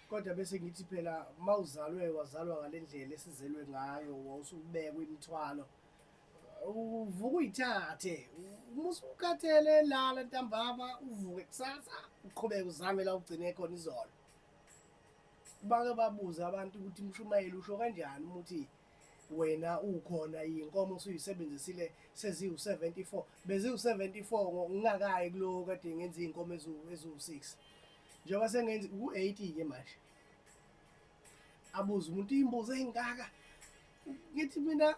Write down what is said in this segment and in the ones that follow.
kodwa bese ngithi phela uma uzalwe wazalwa ngale ndlela esizelwe ngayo wawusubekwa imithwalo uvuka uyithathe uma usukhathele lala ntambama uvuke kusasa uqhubeke uzame la ugcine khona izolo bake babuze abantu ukuthi umshumayeli usho kanjani ukuthi wena ukhona yinkomo usuyisebenzisile seziwu-74 beziwu-74 ngingakayi kulowo kade ngenza iy'nkomo eziwu-6 njengoba sengenzi ku-80 ke manje abuze umuntu iy'mbuzo ey'ngaka ngithi mina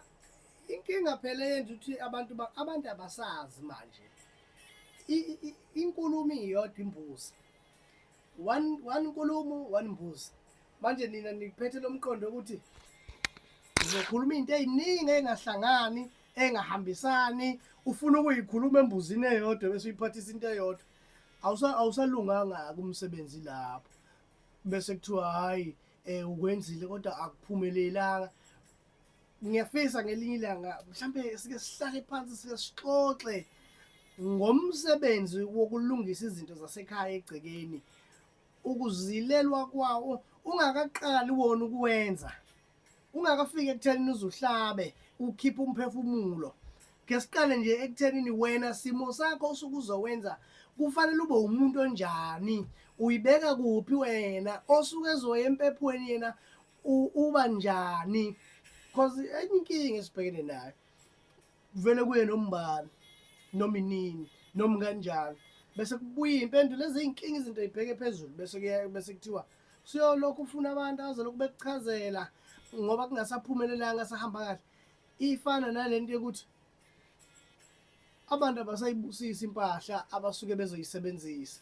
inkinga phela yenza ukuthi abantu abantu abasazi manje inkulumo iyodwa imbuzi one one nkulumo one mbuzi manje nina niphethe lo mqondo ukuthi ngizokhuluma into eziningi engahlangani engahambisani ufuna ukuyikhuluma embuzini eyodwa bese uyiphathisa into eyodwa awusalunganga-ke umsebenzi lapho bese kuthiwa hhayi um ukwenzile kodwa akuphumelelanga ngiyafisa ngelinye ilanga mhlawumbe sike sihlale phansi sike sixoxe ngomsebenzi wokulungisa izinto zasekhaya egcekeni ukuzilelwa kwawo ungakaqali wona ukuwenza ungakafiki ekuthenini uzuhlabe ukhiphe umphefumulo ke siqale nje ekuthenini wena simo sakho osuke uzowenza kufanele ube umuntu onjani uyibeka kuphi wena osuke ezoya empephweni yena uba njani because enye inkinga esibhekene nayo kuvele kuye nombani noma inini noma kanjani bese kubuya impendulo ezinkinga izinto ibheke phezulu bese kuya bese kuthiwa siyolokhu ufuna abantu azolokhu bekuchazela ngoba kungasaphumelelanga sahamba kahle ifana nalento yokuthi abantu abasayibusisi impahla abasuke bezoyisebenzisa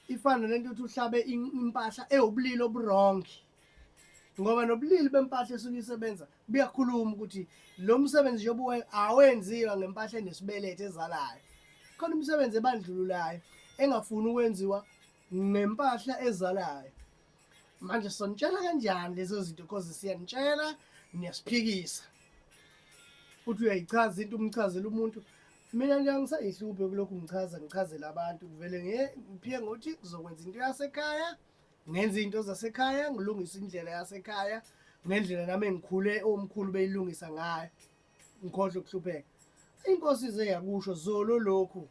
ifana nento ukuthi uhlabe impahla ewubulili oburongi ngoba nobulili bempahla esuke isebenza buyakhuluma ukuthi lo msebenzi njengoba awenziwa ngempahla enesibelethe ezalayo khona umsebenzi ebandlululayo engafuni ukwenziwa ngempahla ezalayo manje sonitshela kanjani lezo zinto because siyanitshela niyasiphikisa futhi uyayichaza into umchazela umuntu mina nje angisayihluphe kulokhu ngichaza ngichazela abantu ngivele ngiphike ngokuthi ngizokwenza into yasekhaya ngenza into zasekhaya ngilungisa indlela yasekhaya ngendlela nami engikhule omkhulu beyilungisa ngayo ngikhohle ukuhlupheka inkosi ize yakusho zolo lokhu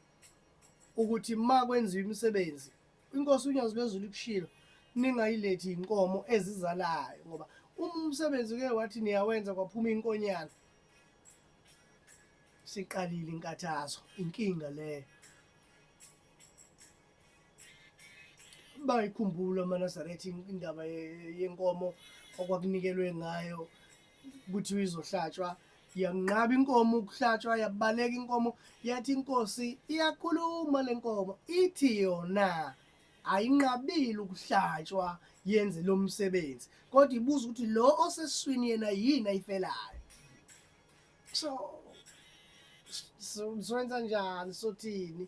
ukuthi ma kwenziwa imisebenzi inkosi unyazi lwezulu ikushilo ningayilethi inkomo ezizalayo ngoba uma umsebenzi ke wathi niyawenza kwaphuma inkonyana siqalile inkathazo inkinga leyo bayikhumbula amanazaretha indaba yenkomo okwakunikelwe ngayo ukuthi izohlatshwa yanqaba inkomo ukuhlatshwa yabaleka inkomo yathi inkosi iyakhuluma le nkomo ithi yona ayinqabile ukuhlatshwa yenze lo msebenzi kodwa ibuza ukuthi lo oseswini yena yini ayifelayo so so swenza njani sothini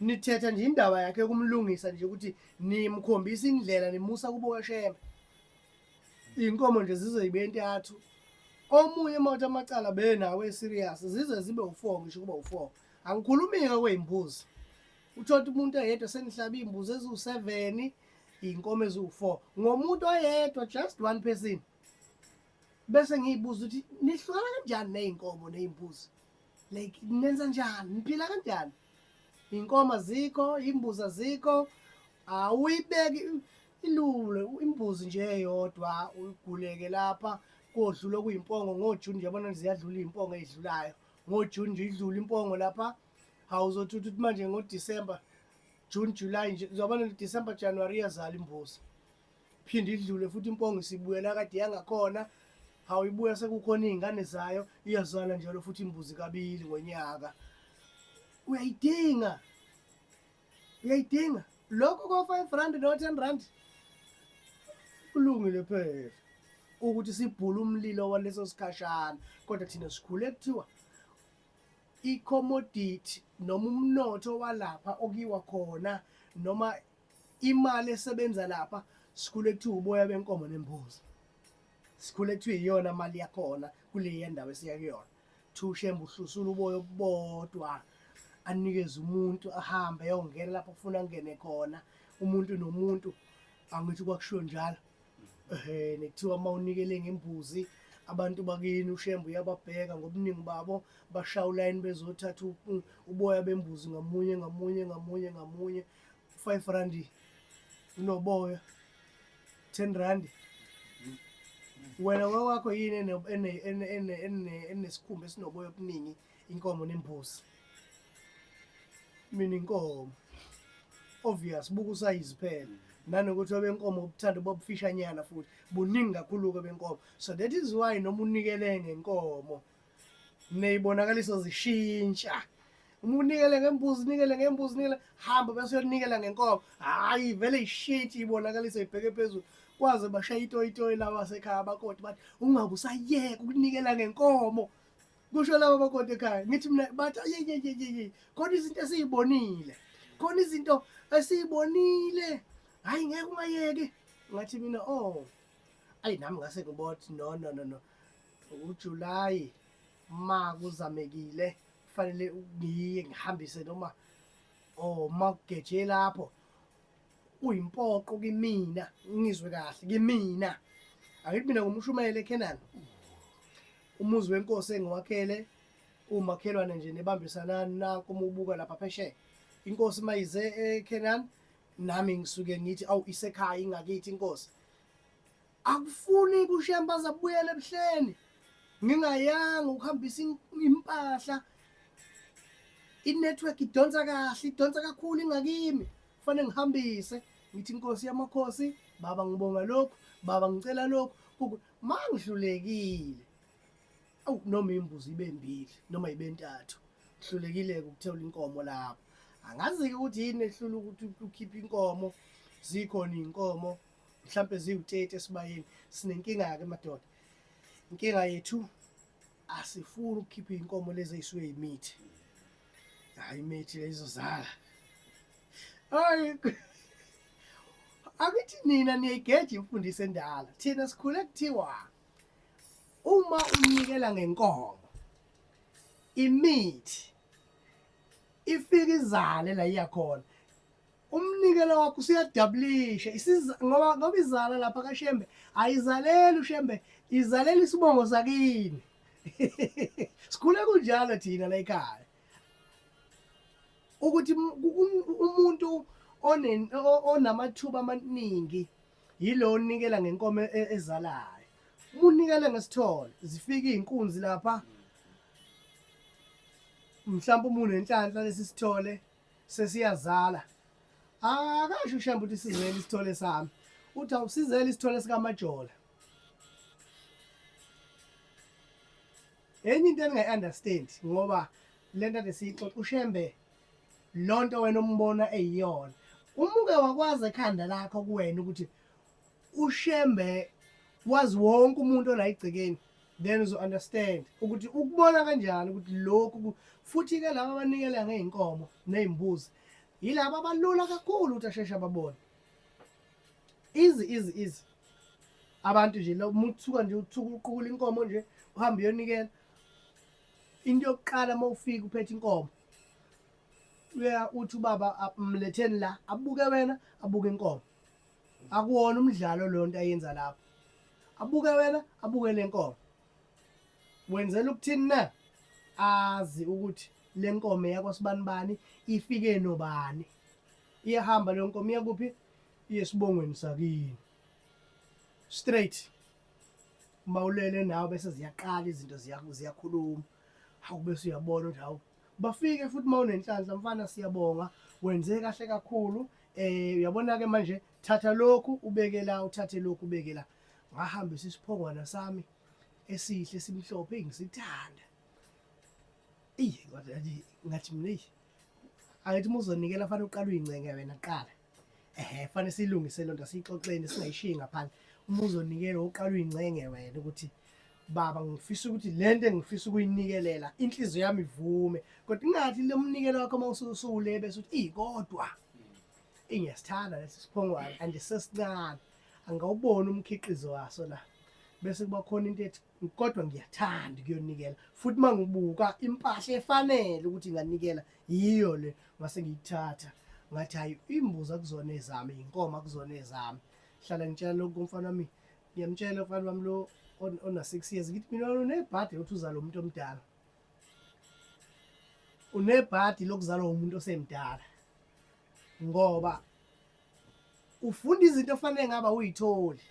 nithetha nje indaba yakhe yokumlungisa nje ukuthi nimkhombisa indlela nimusa kubo kashembe iy'nkomo nje zize yibe entathu omunye mawuthi amacala benawo eserious zize zibe u-four ngisho ukuba u-four angikhulumi-ke kwey'mbuzi uthotha umuntu eyedwa senihlaba iy'mbuzi eziwu-seven iy'nkomo eziwu-four ngomuntu oyedwa just one person bese ngiy'buza ukuthi nihlukana kanjani ney'nkomo ney'mbuzi like nenza njani niphila kanjani iy'nkomo azikho iy'mbuzi azikho awuyibeki ilule imbuzi nje eyodwa uyiguleke lapha kodlula okuyimpongo ngojuni nje yabona ziyadlula iy'mpongo ey'dlulayo ngojuni nje idlula impongo lapha awuzothi uthi manje ngodisemba june july nje zobana december january iyazala imbuzi phinde idlule futhi impongo isibuya nakade yangakhona hawu ibuya sekukhona iy'ngane zayo iyazala njalo futhi imbuzi kabili ngonyaka uyayidinga uyayidinga lokho ko-five rand no-ten rand kulungile phela ukuthi sibhule umlilo waleso sikhashana kodwa thina sikhule kuthiwa i-commodity noma umnotho walapha okuyiwa khona noma imali esebenza lapha sikhule kuthiwa uboya benkomo nembuzi sikhule kuthiwa iyona mali yakhona kule yendawo esiya kuyona thushembe uhlusula uboya obubodwa anikeze umuntu ahambe ayongena lapho kufuna angene khona umuntu nomuntu angithi kwakushiwo njalo ehe nekuthiwa uma unikele ngembuzi abantu bakini ushembe uyababheka ngobuningi babo bashaya ulayini bezothatha uboya bembuzi ngamunye ngamunye ngamunye ngamunye u-five randi unoboya ten randi wena wawakho yini enesikhumba esinoboya obuningi inkomo nembuzi mina inkomo obvious buka usayizi phela nanokuthi obenkomo ubuthanda bobufishanyana futhi buningi kakhulu-ke benkomo so that is why noma unikele ngenkomo neyibonakaliso zishintsha uma unikele ngembuzi unikele ngembuzi unikele hamba bese uyonikela ngenkomo hhayi vele ishintshi ibonakaliso ibheke phezulu kwaze bashaye itoyitoyi laba sekhaya abakoti bathi ungabe usayeka ukunikela ngenkomo kusho laba bakoti ekhaya ngithi mina bathi ayeyeyeyeye khona izinto esiyibonile khona izinto esiyibonile hhayi ngeke ungayeki ngathi mina o oh. ayi nami ngase ngibothi no no no no UJulayi ma kuzamekile kufanele ngiye ngihambise noma or oh, ma kugeje lapho kuyimpoqo kimina ngizwe kahle kimina angithi mina ngumshumayeli eKhenan umuzi wenkosi engiwakhele umakhelwane nje nebambisana nako umubuka lapha phesheya inkosi mayize eKhenan nami ngisuke ngithi awu isekhaya ingakithi inkosi akufuni kushemba azabuyela ebuhleni ngingayanga ukuhambisa impahla inetwork idonsa kahle idonsa kakhulu ingakimi kufanele ngihambise ngithi inkosi yamakhosi baba ngibonga lokhu baba ngicela lokhu ma ngihlulekile awu noma imbuzi ibe mbili noma ibe ntathu ngihlulekile-ke ukuthewula inkomo lapho angazi-ke ukuthi yini ehlula ukuthi ukhiphe inkomo zikhona iy'nkomo mhlawumpe ziwu-30 esibayeni sinenkinga-ke madoda inkinga yethu asifuni ukukhipha iy'nkomo lezi ey'suke yimithi hhayi imithi leyizozala hayi angithi nina niyayigeja imfundiso endala thina sikhule kuthiwa uma unikela ngenkomo imithi ifike izale la iyakhona umnikelo wakho usuyajabulisha isiza ngoba ngoba izala lapha kaShembe ayizaleli uShembe izalela isibongo sakini sikhule kunjalo thina la ekhaya ukuthi umuntu onamathuba amaningi yilo onikela ngenkomo e, ezalayo unikele ngesithole zifika izinkunzi lapha mhlawumbe umuntu enhlanhla lesisithole sesiyazala akasho ushembe ukuthi sizele isithole sami uthi awusizele isithole sikamajola enye into endingayi-understand ngoba le nto ade siyixoxa ushembe loo nto wena ombona eyiyona umuke wakwazi ekhanda lakho kuwena ukuthi ushembe wazi wonke umuntu ola igcekeni then uzo understand ukuthi ukubona kanjani ukuthi lokhu futhi ke laba abanikela ngeenkomo nezimbuzi yilabo abalula kakhulu ukuthi asheshe ababone izi izi izi abantu nje lo muthuka nje uthuka uqukula inkomo nje uhamba uyonikela into yokuqala uma ufika uphethe inkomo uya uthi ubaba mletheni la abuke wena abuke inkomo akuwona umdlalo lonto ayenza lapho abuke wena abuke lenkomo wenzela ukuthini na azi ukuthi lenkomo yakwasibani bani ifike nobani iyahamba leyo nkomo iyakuphi iyesibongweni sakini straight mawulele nawe bese ziyaqala izinto ziyakhuluma hawu bese uyabona ukuthi hawu bafike futhi uma unenhlanhla mfana siyabonga wenze kahle kakhulu eh uyabona-ke manje thatha lokhu ubeke la uthathe lokhu ubeke la ngahambisa isiphongwana sami esihle simhlophe ngisithanda eyi ngathi mina eyi angithi uma uzonikela fanele uqala uyincenga wena qala ehe fanele silungise lento asiyixoxeni singayishiyi ngaphandle uma uzonikela uqala uyingcenge wena ukuthi baba ngifisa ukuthi lento engifisa ukuyinikelela inhliziyo yami ivume kodwa ingathi lomnikelo wakho uma ususuwule bese uthi ey kodwa ingiyasithanda lesi siphongwane andisesincane angawuboni umkhiqizo waso la bese kuba khona into ethi kodwa ngiyathanda ukuyonikela futhi uma ngibuka impahla efanele ukuthi nganikela yiyo le ngase ngiyithatha ngathi hayi imbuzi akuzona ezami inkomo akuzona ezami hlala ngitshela lokhu kumfana wami ngiyamtshela umfana wami lo ona-six years ngithi mina unebhadi lokuthi uzala umuntu omdala unebhadi lokuzalwa umuntu osemdala ngoba ufunda izinto ofanele ngaba uyitholi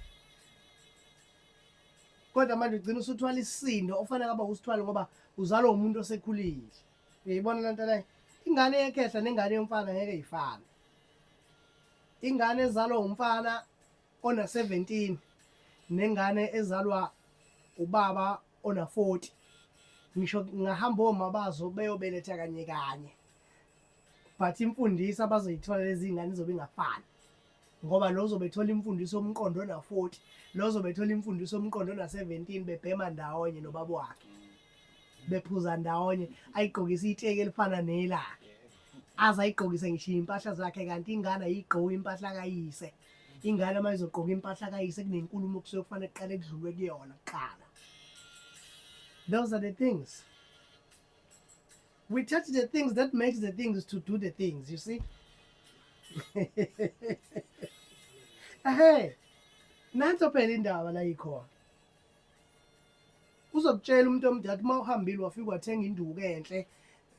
kodwa manje ugcina usuthwala isisindo ofanele ngaba usithwale ngoba uzalwa umuntu osekhulile uyayibona le nto leyo ingane yekhehla nengane yomfana ngeke ifane ingane ezalwa umfana ona-17 nengane ezalwa ubaba ona-40 ngisho ngahamba omabazo beyobeletha kanye kanye but imfundiso abazoyithola lezi ngane izobe ingafani ngoba lo uzobe ethola imfundiso omqondo na 40 lo uzobe ethola imfundiso omqondo na 17 bebhema ndawonye nobaba wakhe bephuza ndawonye ayigqokisa iteki elifana nelakhe aze ayigqokise ngisho impahla zakhe kanti ingane ayigqoki impahla kayise ingane uma izogqoka impahla kayise kunenkulumo kusuke kufanele kuqale kudlulwe kuyona kuqala those are the things We touch the things that makes the things to do the things, you see? Ehe. Nanso phela indaba la ikhona. Uzokutshela umuntu omdala uma uhambile wafika wathenga induku enhle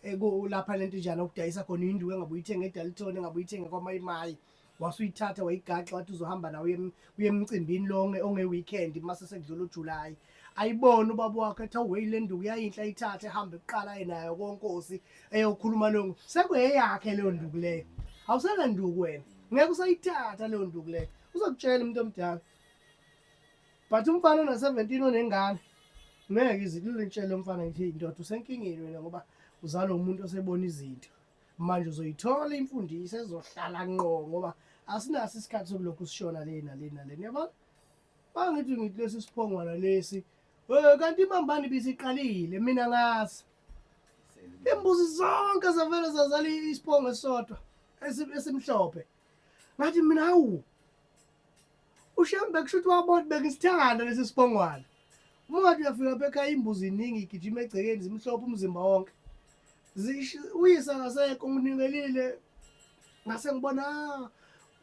eh, ku- lapha lento njani okudayisa khona induku engabe uyithenge eDalton engabe uyithenge kwaMayimayi wasuyithatha wayigaxa wathi uzohamba nawe uye emcimbini lo onge-weekend uma sesekudlula ujuly ayibone ubaba wakho ethi awuwe le nduku yayinhle ayithathe ehambe kuqala ye nayo konkosi eyokhuluma leyo nduku sekuyeyakhe leyo nduku leyo awusena nduku wena ngeke usayithatha leyo nduku leyo uzokutshela umuntu omdala but umfana ona-seventeen onengane ngeke izilule ntshele umfana ngithi indoda usenkingeni wena ngoba uzalwa umuntu osebona izinto manje uzoyithola imfundiso ezohlala nqo ngoba asinaso isikhathi sokulokhu sishona le nale nale niyabona bangithi ngithi lesi siphongwana lesi eh kanti imambani bisiqalile mina ngazi imbuzi zonke zavele zazala isiphongo esisodwa esimhlophe ngathi mina hawu ushembe kusho ukuthi wabona bengisithanda lesi siphongwana uma ngathi uyafika lapha ekhaya imbuzi iningi igijima egcekeni zimhlophe umzimba wonke Zishi uyise akasekho nginikelile ngase ngibona ah,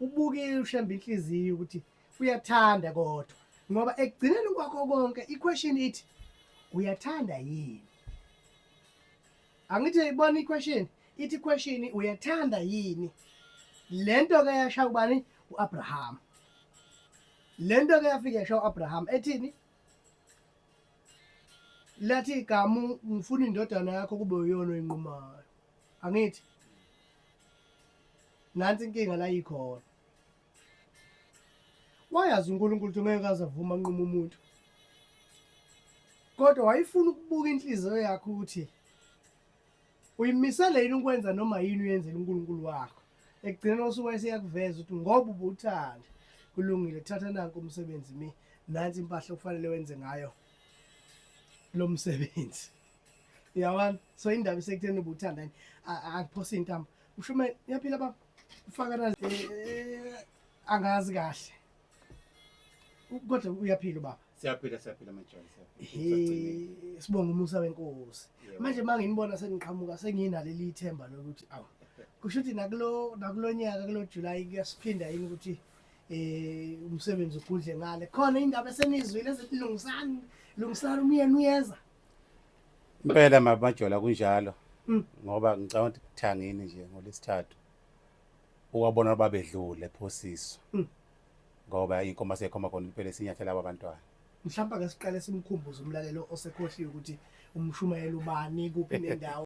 ubukile ushemba inhliziyo ukuthi uyathanda kodwa ngoba ekugcineni kwakho konke iquestion ithi uyathanda yini angithi ibona iquestion ithi question uyathanda yini lento ke yasha ubani uAbraham lento ke yafika yasha uAbraham ethini lathi igama ngifuna indodana yakho kube uyona oyinqumayo angithi nansi inkinga la yikhona wayazi uNkulunkulu ukuthi ngeke azavuma nquma umuntu kodwa wayefuna ukubuka inhliziyo yakhe ukuthi uyimisele yini ukwenza noma yini uyenzela uNkulunkulu wakho ekugcineni osuku wayeseyakuveza ukuthi ngoba ubuthanda kulungile thatha nanku umsebenzi mi nansi impahla okufanele wenze ngayo lo msebenzi yabona so indaba isekutheni ubuthanda yini akuphose intambo ushume yaphila baba ufakana eh, eh, angazi kahle Kodwa uyaphila ubaba. Siyaphila siyaphila majola siyaphila. Sibonga umusa wenkosi. Manje manginibona sengiqhamuka senginaleli ithemba lokuthi awu kusho ukuthi nakulo nakulo nyaka kulo July kuyasiphinda yini ukuthi eh umsebenzi ugudle ngale khona indaba esenizwile ezithi lungisani lungisani umyeni uyeza impela mabajola kunjalo hmm. ngoba ngicabanga ukuthi kuthangini nje ngolesithathu uwabona babedlule ephosiswa hmm. ngoba inkomo asekhomba khona impela esinyathela aba bantwana mhlawumbe ake siqale simkhumbuze umlalelo osekhohliwe ukuthi umshumayeli ubani kuphi nendawo